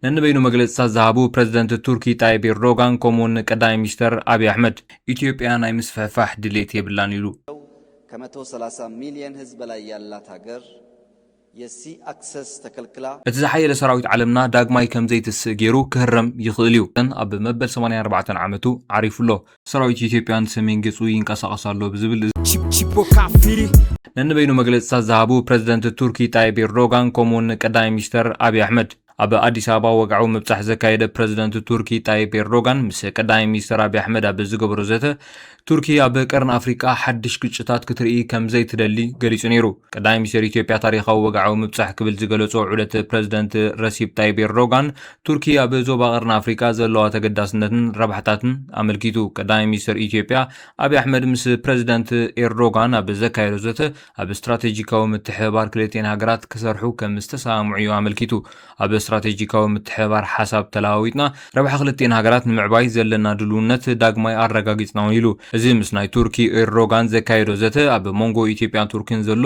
ነንበይኑ መግለፅታት ዝሃቡ ፕረዚደንት ቱርኪ ጣይብ ኤርዶጋን ከምኡውን ቀዳማይ ሚኒስተር ኣብዪ ኣሕመድ፣ ኢትዮጵያ ናይ ምስፍሕፋሕ ድሌት የብላን ኢሉ። ከመቶ ሰላሳ ሚልየን ህዝብ በላይ ያላት ሃገር የሲ ኣክሰስ ተከልክላ። እቲ ዝሓየለ ሰራዊት ዓለምና ዳግማይ ከም ዘይትስእ ገይሩ ክህረም ይኽእል እዩ። ኣብ መበል ሰማንያን ኣርባዕተን ዓመቱ ዓሪፉ ኣሎ። ሰራዊት ኢትዮጵያ ንሰሜን ገጹ ይንቀሳቐስ ኣሎ ብዝብል ነንበይኑ መግለጽታት ዝሃቡ ፕረዚደንት ቱርኪ ጣይብ ኤርዶጋን ከምኡውን ቀዳማይ ሚኒስተር ኣብዪ ኣሕመድ ኣብ ኣዲስ ኣበባ ወግዓዊ ምብጻሕ ዘካየደ ፕረዚደንት ቱርኪ ጣይብ ኤርዶጋን ምስ ቀዳማይ ሚኒስተር ኣብዪ ኣሕመድ ኣብ ዝገበሮ ዘተ ቱርኪ ኣብ ቀርኒ ኣፍሪቃ ሓድሽ ግጭታት ክትርኢ ከም ዘይትደሊ ገሊጹ ነይሩ። ቀዳማይ ሚኒስተር ኢትዮጵያ ታሪኻዊ ወግዓዊ ምብጻሕ ክብል ዝገለጾ ዑደት ፕረዚደንት ረሲፕ ጣይብ ኤርዶጋን ቱርኪ ኣብ ዞባ ቀርኒ ኣፍሪቃ ዘለዋ ተገዳስነትን ረብሓታትን ኣመልኪቱ ቀዳማይ ሚኒስትር ኢትዮጵያ ኣብዪ ኣሕመድ ምስ ፕረዚደንት ኤርዶጋን ኣብ ዘካየዶ ዘተ ኣብ ስትራቴጂካዊ ምትሕብባር ክልቲኤን ሃገራት ክሰርሑ ከም ዝተሰማምዑ እዩ ኣመልኪቱ። ኣብ ስትራቴጂካዊ ምትሕብባር ሓሳብ ተለዋዊጥና ረብሓ ክልቲኤን ሃገራት ንምዕባይ ዘለና ድልውነት ዳግማይ ኣረጋጊጽና እውን ኢሉ። እዚ ምስ ናይ ቱርኪ ኤርዶጋን ዘካየዶ ዘተ ኣብ መንጎ ኢትዮጵያን ቱርኪን ዘሎ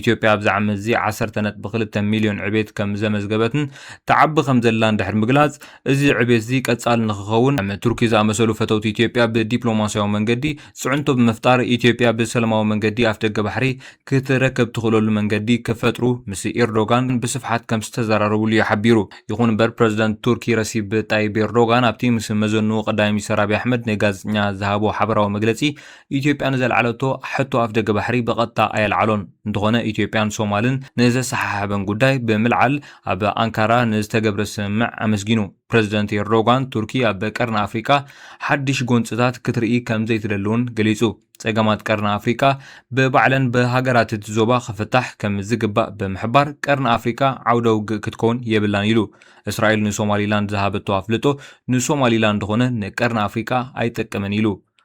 ኢትዮጵያ ኣብዚ ዓመት እዚ ዓሰርተ ነጥቢ ክልተ ሚልዮን ዕቤት ከም ዘመዝገበትን ትዓቢ ከም ዘላን ድሕሪ ምግላጽ፣ እዚ ዕቤት እዚ ቀጻሊ ንኽኸውን ከም ቱርኪ ዝኣመሰሉ ፈተውቲ ኢትዮጵያ ብዲፕሎማስያዊ መንገዲ ጽዕንቶ ብምፍጣር ኢትዮጵያ ብሰለማዊ መንገዲ ኣፍደገ ባሕሪ ክትረከብ ትኽእለሉ መንገዲ ክፈጥሩ ምስ ኤርዶጋን ብስፍሓት ከም ዝተዘራረብሉ እዩ ሓቢሩ። ይኹን እምበር ፕረዚደንት ቱርኪ ረሲብ ጣይብ ኤርዶጋን ኣብቲ ምስ መዘንኡ ቀዳማይ ሚኒስተር ኣብይ ኣሕመድ ንጋዜጠኛ ዝሃቦ ሓበራዊ መግለጺ ኢትዮጵያ ንዘልዓለቶ ሕቶ ኣፍደገ ባሕሪ ብቐጥታ ኣየልዓሎን። እንተኾነ ኢትዮጵያን ሶማልን ንዘሰሓሓበን ጉዳይ ብምልዓል ኣብ ኣንካራ ንዝተገብረ ስምምዕ ኣመስጊኑ። ፕረዚደንት ኤርዶጋን ቱርኪ ኣብ ቀርኒ ኣፍሪቃ ሓድሽ ጎንጽታት ክትርኢ ከምዘይትደሊ'ውን ገሊጹ። ጸገማት ቀርኒ ኣፍሪቃ ብባዕለን ብሃገራት'ቲ ዞባ ክፍታሕ ከምዝግባእ ብምሕባር ቀርኒ ኣፍሪቃ ዓውደ ውግእ ክትከውን የብላን ኢሉ። እስራኤል ንሶማሊላንድ ዝሃበቶ ኣፍልጦ ንሶማሊላንድ ኾነ ንቀርኒ ኣፍሪቃ ኣይጠቅምን ኢሉ።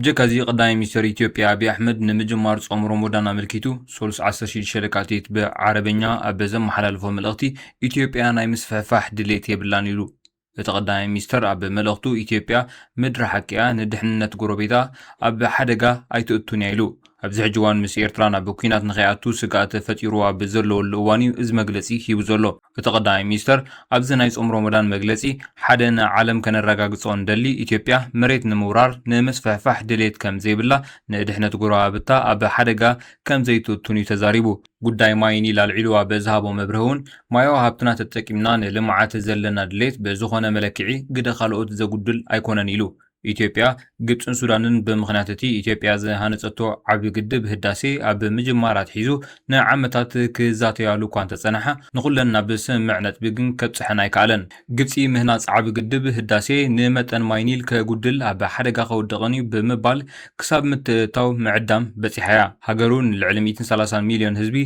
ብጀካ'ዚ ቀዳማይ ሚኒስተር ኢትዮጵያ ኣቢይ ኣሕመድ ንምጅማር ጾም ሮሞዳን ኣመልኪቱ ሰሉስ ዓሰርተ ሽዱሽተ ለካቲት ብዓረበኛ ኣብ ዘመሓላለፎ መልእኽቲ ኢትዮጵያ ናይ ምስፍሕፋሕ ድሌት የብላን ኢሉ። እቲ ቀዳማይ ሚኒስተር ኣብ መልእኽቱ ኢትዮጵያ ምድሪ ሓቂ'ያ፣ ንድሕንነት ጎረቤታ ኣብ ሓደጋ ኣይተእቱን'ያ ኢሉ። ኣብዚ ሕጂ እዋን ምስ ኤርትራ ናብ ኲናት ንኸይኣቱ ስግኣት ፈጢሩ ኣብ ዘለወሉ እዋን'ዩ እዚ መግለጺ ሂቡ ዘሎ። እቲ ቀዳማይ ሚኒስተር ኣብዚ ናይ ጾም ሮሞዳን መግለጺ ሓደ ንዓለም ከነረጋግጾ እንደሊ ኢትዮጵያ መሬት ንምውራር ንምስፍሕፋሕ ድሌት ከም ዘይብላ ንድሕነት ጎረባብታ ኣብ ሓደጋ ከም ዘይትእቱን እዩ ተዛሪቡ። ጉዳይ ማይ ኒል ኣልዒሉ ኣብ ዝሃቦ መብርሂ'ውን ማያዊ ሃብትና ተጠቂምና ንልምዓት ዘለና ድሌት ብዝኾነ መለክዒ ግደ ካልኦት ዘጉድል ኣይኮነን ኢሉ። ኢትዮጵያ፣ ግብፅን ሱዳንን ብምኽንያት እቲ ኢትዮጵያ ዝሃነፀቶ ዓብዪ ግድብ ህዳሴ ኣብ ምጅማር ኣትሒዙ ንዓመታት ክዛተያሉ እኳ እንተፀንሓ ንኹለን ናብ ስምምዕ ነጥቢ ግን ከብፅሐን ኣይከኣለን። ግብፂ ምህናፅ ዓብዪ ግድብ ህዳሴ ንመጠን ማይ ኒል ከጉድል ኣብ ሓደጋ ከውድቕን እዩ ብምባል ክሳብ ምትእትታው ምዕዳም በፂሓ እያ። ሃገሩ ንልዕሊ ሚእትን ሰላሳን ሚልዮን ህዝቢ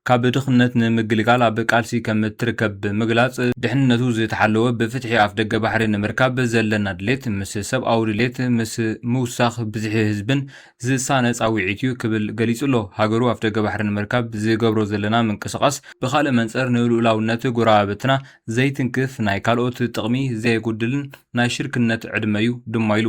ካብ ድኽነት ንምግልጋል ኣብ ቃልሲ ከም እትርከብ ብምግላጽ፣ ድሕንነቱ ዝተሓለወ ብፍትሒ ኣፍደገ ባሕሪ ንምርካብ ዘለና ድሌት ምስ ሰብኣዊ ድሌት ምስ ምውሳኽ ብዝሒ ህዝብን ዝሳነ ጻውዒት'ዩ ክብል ገሊጹ'ሎ። ሃገሩ ኣፍደገ ባሕሪ ንምርካብ ዝገብሮ ዘለና ምንቅስቓስ ብኻልእ መንጽር ንልኡላውነት ጎረባብትና ዘይትንክፍ፣ ናይ ካልኦት ጥቕሚ ዘየጉድልን ናይ ሽርክነት ዕድመ'ዩ ድማ ኢሉ።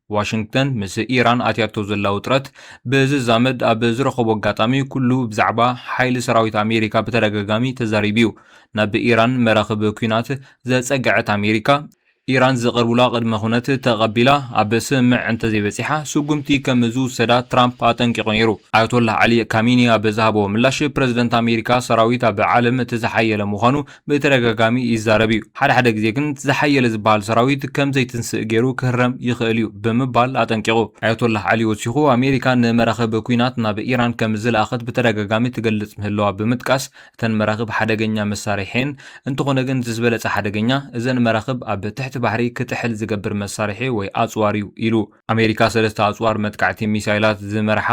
ዋሽንግተን ምስ ኢራን ኣትያቶ ዘላ ውጥረት ብዝዛመድ ኣብ ዝረኸቦ ኣጋጣሚ ኩሉ ብዛዕባ ሓይሊ ሰራዊት ኣሜሪካ ብተደጋጋሚ ተዛሪቡ እዩ። ናብ ኢራን መራኽብ ኲናት ዘጸግዐት ኣሜሪካ፣ ኢራን ዝቐርቡላ ቅድመ ኩነት ተቐቢላ ኣብ ስምምዕ እንተዘይበጺሓ ስጉምቲ ከም ዝውሰዳ ትራምፕ ኣጠንቂቑ ነይሩ። ኣያቶላህ ዓሊ ካሚኒ ኣብ ዝሃቦ ምላሽ፣ ፕረዚደንት ኣሜሪካ ሰራዊት ኣብ ዓለም እቲ ዝሓየለ ምዃኑ ብተደጋጋሚ ይዛረብ እዩ፣ ሓደ ሓደ ግዜ ግን እቲ ዝሓየለ ዝበሃል ሰራዊት ከም ዘይትንስእ ገይሩ ክህረም ይኽእል እዩ ብምባል ኣጠንቂቑ። ኣያቶላህ ዓሊ ወሲኹ፣ ኣሜሪካ ንመራኽብ ኲናት ናብ ኢራን ከም ዝለኣኸት ብተደጋጋሚ ትገልጽ ምህላዋ ብምጥቃስ፣ እተን መራኽብ ሓደገኛ መሳርሒ'የን፣ እንተኾነ ግን እቲ ዝበለጸ ሓደገኛ፣ እዘን መራኽብ ኣብ ትሕቲ ባሕሪ ክጥሕል ዝገብር መሳርሒ ወይ ኣጽዋር'ዩ ኢሉ። ኣሜሪካ ሰለስተ ኣጽዋር መጥቃዕቲ ሚሳይላት ዝመርሓ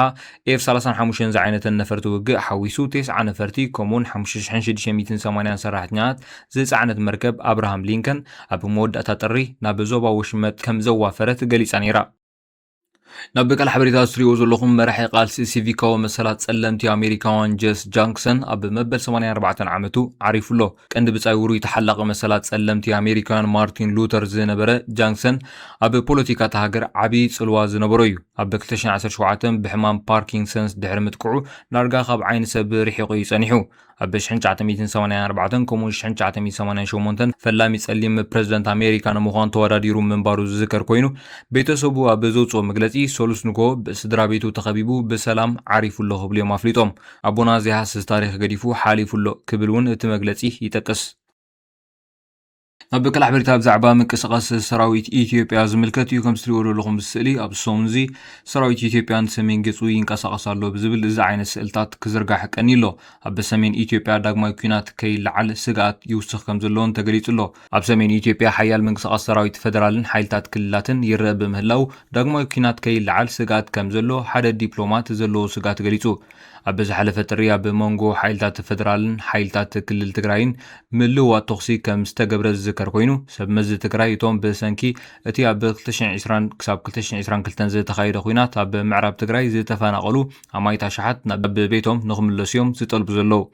ኤፍ ሰላሳን ሓሙሽተን ዝዓይነተን ነፈርቲ ውግእ ሓዊሱ ቴስዓ ነፈርቲ ከምኡውን ሓሙሽተ ሽሕን ሽዱሽተ ሚእትን ሰማንያን ሰራሕተኛታት ዝጸዓነት መርከብ ኣብርሃም ሊንከን ኣብ መወዳእታ ጥሪ ናብ ዞባ ወሽመጥ ከም ዘዋፈረት ገሊጻ ነይራ። ናብ ብቃል ሓበሬታ ዝትሪእዎ ዘለኹም መራሒ ቃልሲ ሲቪካዊ መሰላት ጸለምቲ ኣሜሪካውያን ጀስ ጃንክሰን ኣብ መበል 84 ዓመቱ ዓሪፉ ኣሎ። ቀንዲ ብጻይ ውሩይ ተሓላቒ መሰላት ጸለምቲ ኣሜሪካውያን ማርቲን ሉተር ዝነበረ ጃንክሰን ኣብ ፖለቲካ እታ ሃገር ዓቢ ጽልዋ ዝነበሮ እዩ። ኣብ ክልተ ሽሕን ዓሰርተ ሸውዓተን ብሕማም ፓርኪንሰንስ ድሕሪ ምጥቅዑ ዳርጋ ካብ ዓይኒ ሰብ ርሒቑ እዩ ጸኒሑ። ኣብ ሽሕን ትሽዓተ ሚእትን ሰማንያን ኣርባዕተን ከምኡ'ውን ሽሕን ትሽዓተ ሚእትን ሰማንያን ሸሞንተን ፈላሚ ጸሊም ፕረዚደንት ኣሜሪካ ንምዃን ተወዳዲሩ ምንባሩ ዝዝከር ኰይኑ፣ ቤተሰቡ ኣብ ዘውጽኦ መግለጺ፣ ሰሉስ ንግሆ ብስድራቤቱ ተኸቢቡ ብሰላም ዓሪፉ ኣሎ ክብሉ እዮም ኣፍሊጦም። ኣቦና ዘይሃስስ ታሪኽ ገዲፉ ሓሊፉ ኣሎ ክብል እውን እቲ መግለጺ ይጠቅስ። ኣብ ቀል ሓበሬታ ብዛዕባ ምንቅስቓስ ሰራዊት ኢትዮጵያ ዝምልከት እዩ። ከምዚ ትሪእዎ ዘለኹም እዚ ስእሊ ኣብዚ ሰሙን እዚ ሰራዊት ኢትዮጵያ ንሰሜን ገጹ ይንቀሳቐስ ኣሎ ብዝብል እዚ ዓይነት ስእልታት ክዝርጋሕ ቀንዩ ኣሎ። ኣብ ሰሜን ኢትዮጵያ ዳግማይ ኲናት ከይለዓል ስግኣት ይውስኽ ከም ዘለዎን ተገሊጹ ኣሎ። ኣብ ሰሜን ኢትዮጵያ ሓያል ምንቅስቓስ ሰራዊት ፈደራልን ሓይልታት ክልላትን ይረእ ብምህላው ዳግማይ ኲናት ከይለዓል ስግኣት ከም ዘሎ ሓደ ዲፕሎማት ዘለዎ ስግኣት ገሊጹ። ኣብ ዝሓለፈ ጥሪ ኣብ መንጎ ሓይልታት ፈደራልን ሓይልታት ክልል ትግራይን ምልውዋጥ ተኹሲ ከም ዝተገብረ ዝዝከር ኮይኑ፣ ሰብ መዚ ትግራይ እቶም ብሰንኪ እቲ ኣብ ክልተ ሽሕን ዕስራን ክሳብ ክልተ ሽሕን ዕስራን ክልተን ዝተኻየደ ኲናት ኣብ ምዕራብ ትግራይ ዝተፈናቐሉ ኣማኢት ኣሽሓት ናብ ቤቶም ንክምለሱ'ዮም ዝጠልቡ ዘለዉ።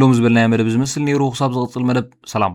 ሎሚ ዝበልናዮ መደብ ዝመስል ነይሩ ክሳብ ዝቕጽል መደብ ሰላም።